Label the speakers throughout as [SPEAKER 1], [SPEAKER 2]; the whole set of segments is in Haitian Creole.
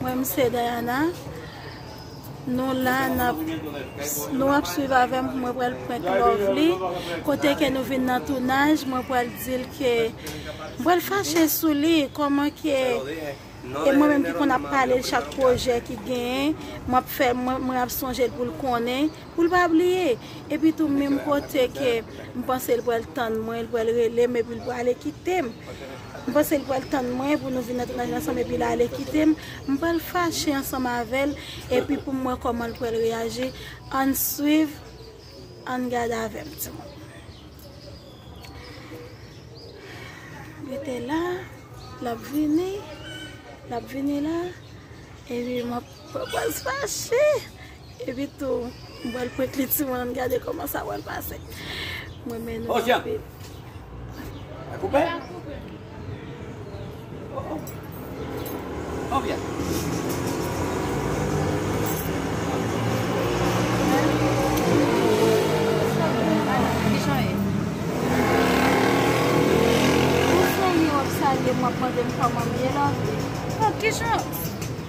[SPEAKER 1] Mwen m se Dayana Nou la nap Nou ap swiv avèm mwen pral prank Lovely kote ke nou vin nan tounaj mwen pral dil ke mwen pral fache sou li koman ke e mwen menm ki konn ap pale chak projè ki gen map fè mwen ap sonjel poul konnen poul pa bliye epi tou menm kote ke m panse l pral tann mwen l pral relem epi l prale kitem. M panse l pral tann mwen pou nou vin nan tounaj ansanm epi l ale kite m. M pral fache ansanm avè l epi pou m wè kòman l pral reyaji. Ann swiv, ann gade avè m timoun. Rete la, l ap vini, l ap vini la. Epi m ap pran pòz fache. Epi tou m bwèl pwent li ti mwen gade kòman sa pral pase m renmen nou
[SPEAKER 2] anpil.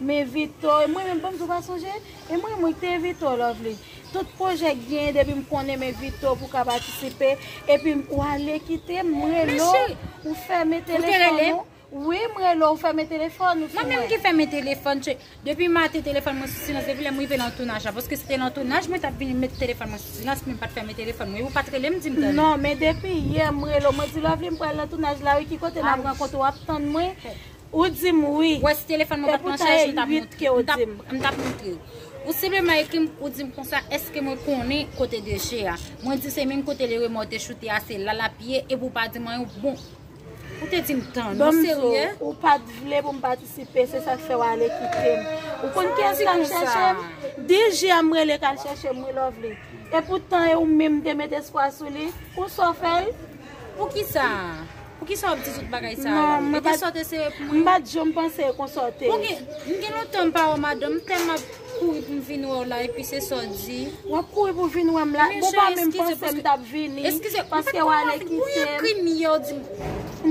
[SPEAKER 1] Me Vito e mwen menm banm di ou pa sonje e mwen mwen te Vito lovely tout projè k genyen depim konnen me Vito pou ka patisipe epi ou ale kitem m rele w ou fèmen telefòn ou wi m rele w ou fèmen telefòn ou sou mwen. Mwen menm ki fèmen
[SPEAKER 3] telefòn depi maten telefòn mwen sou silans depi lèm rive nan tounaj la paske se te nan tounaj mwen tap vin met telefòn mwen sou silans men m pat fèmen telefòn mwen ou pat rele m dim tande. Non men depi yè
[SPEAKER 1] m rele w mwen di lovely m pral nan tounaj la wi ki kote nap rankontre wap tann mwen. Ou di m wi. Wè si telefòn mwen pat nan
[SPEAKER 3] chaj m tap montre w. M tap montre w. Ou senpleman ekri m, ou di m konsa èske mwen konnen kote deche a. Mwen di w se menm kote le remò te choute a se la lap ye epi w pa di m anyen w bon. Ou te di m tann. Ou serye? Ou pat vle
[SPEAKER 1] pou m patisipe se sak fè w ale kite m. Ou konn kiyès ki tap chèche m? DJ a m rele kal chèche m wi Lovely. Epoutan e ou menm m te met espwa sou li. Ou sa w fè l? Poukisa?
[SPEAKER 3] Poukisa wap di tout bagay sa a la? Li te sote se
[SPEAKER 1] pou
[SPEAKER 3] mwen. M pat janm panse e konsa
[SPEAKER 1] w te. M gen
[SPEAKER 3] lontan m pa wè w madanm, m tèlman ap kouri pou m vin wè w la epi se sa w di. Wap kouri pou vin
[SPEAKER 1] wè m la? Bon pa menm panse m tap vini. Eskize, m pat konnen
[SPEAKER 3] wap vini.
[SPEAKER 1] Bon yon krim yè w di m.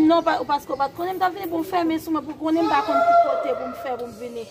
[SPEAKER 1] Non, paske w pat konnen m tap vini pou m fèmen sou mwen pou konnen m pa konn ki kote pou m fè pou m vini.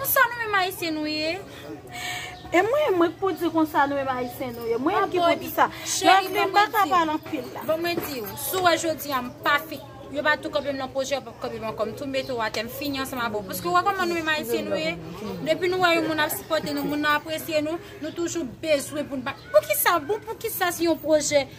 [SPEAKER 3] Pou sa nou menm ayisyen nou ye.
[SPEAKER 1] E mwen mwen k pou di konsa nou menm ayisyen nou ye. Mwen ki pou di sa. Lòvli m pa ka
[SPEAKER 3] pale
[SPEAKER 1] anpil la. Bon mwen di ou. Si w wè
[SPEAKER 3] jodi a m pa fi. Yo pa tou kanpe m nan pwojè yo pap kanpe m ankò. M tou mete w atè. M fini ansanm avè w. Paske ou wè kòman nou menm ayisyen nou ye. Depi nou wè yon moun ap sipòte nou. Moun nan apresye nou. Nou toujou bezwen pou n pa. Poukisa bon poukisa si yon pwojè.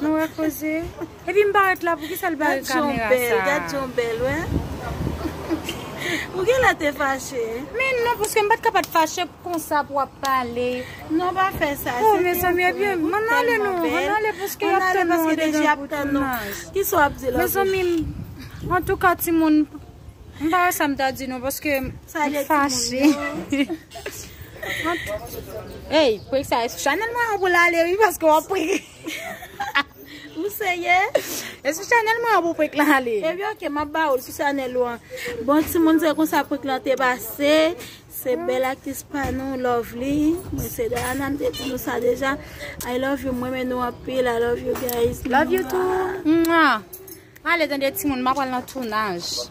[SPEAKER 1] Nou repoze.
[SPEAKER 3] Epi m pa ret la poukisa li pa gen kamera sa. Gad jan w bèl
[SPEAKER 1] wè. Ou genlè te fache. Men non paske m
[SPEAKER 3] pat ka pat fache pou konsa pou wap pale. Non pa fè
[SPEAKER 1] sa. Oh mezanmi epi yo
[SPEAKER 3] m ale non. M ale paske yap tann nou andedan pou tounaj. Kisa wap di la bouche. Mezanmi antouka timoun. M pa wè sa m ta di non paske m fache. Ey, pou eksa esou chanel mwen an pou l ale wi paske w ap prik.
[SPEAKER 1] Ou serye? Esou
[SPEAKER 3] chanel mwen an pou prik lan ale. Ebi ok, m ap ba ou l
[SPEAKER 1] sou chanel ou an. Bon timoun se konsa prik lan te pase. Se bèl aktris pa nou Lovely. Mwen se Dayana m te di nou sa deja. I love you, m renmen nou anpil. I love you guys. Love
[SPEAKER 3] you too. Mwen
[SPEAKER 1] ale
[SPEAKER 3] tande timoun m ap pral nan
[SPEAKER 1] tounaj.